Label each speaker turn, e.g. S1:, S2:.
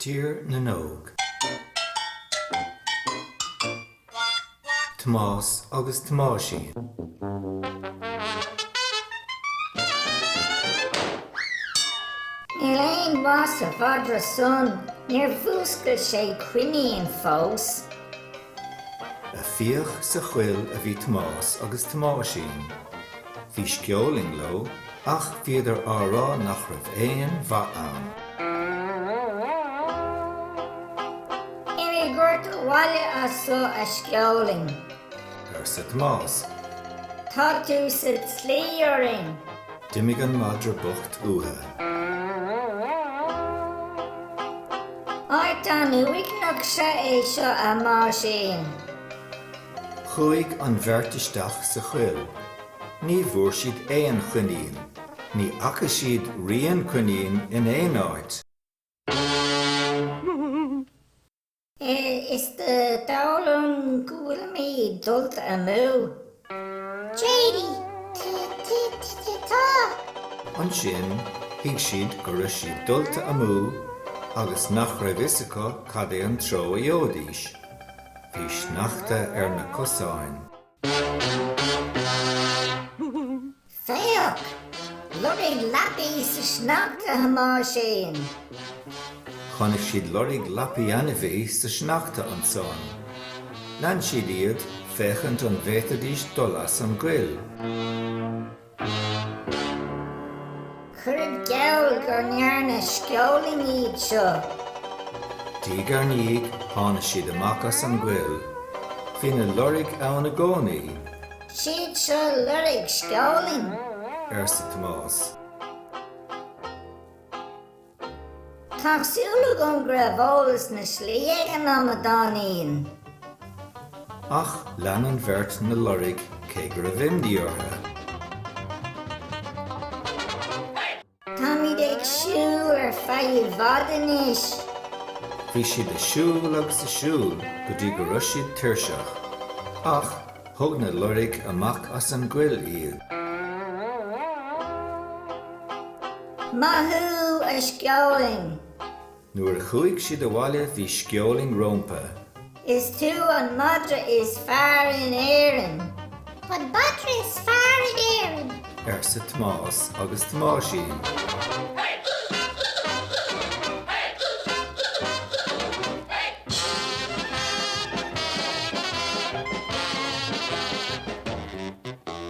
S1: Tír na nÓg. Tomás agus Tomáisín. Níl aon mhaith sa mhadra san, níor mhúscail sé coinín fós. Ag fiach sa choill a bhí Tomás agus Tomáisín. Bhí Sceolaing leo ach bhíodar á rá nach raibh aon mhaith ann. Imigh ort abhaile as so, a Sceolaing. arsa Tomás. Tá tú sa tslí orainn. D'imigh an madra bocht uathu. Áit an-uaigneach 'sea é seo, a Thomáisín. Chuaigh an bheirt isteach sa choill. Ní bhfuair siad aon choinín. Ní fhaca siad rian coinín in aon áit. Is dóigh liom go bhfuilimid dulta amú. Teidí! Teidí-te-te-te-tá! Ansin thuig siad go raibh siad dulta amú agus nach raibh fhios acu cad é an treo a gheobhaidís. Bhí sneachta ar na cosáin. Féach! Lorg lapaí sa sneachta, a Thomáisín! Chonaic siad lorg lapaí ainmhí sa sneachta ansan. Lean siad iad, féachaint an bhféadfaidís dul as an gcoill. Cuirfead geall go ndearna Sceolaing iad seo. Diaidh ar ndiaidh, tháinig siad amach as an gcoill. Bhí na loirg ann i gcónaí. 'Siad so loirg Sceolaing? arsa Tomás. Tá súil agam go raibh eolas na slí ag an amadáinín! Ach lean an bheirt na loirg cé go raibh imní orthu. Táimid ag siúl ar feadh i bhfad anois. Bhí siad ag siúl agus ag siúl go dtí go raibh siad tuirseach, ach thug na loirg amach as an gcoill iad. Maith thú, a Sceolaing! Nuair a chuaigh siad abhaile bhí Sceolaing rompu. Is tú an madra is fearr in Éirinn. An madra is fearr in Éirinn. arsa Tomás agus Tomáisín.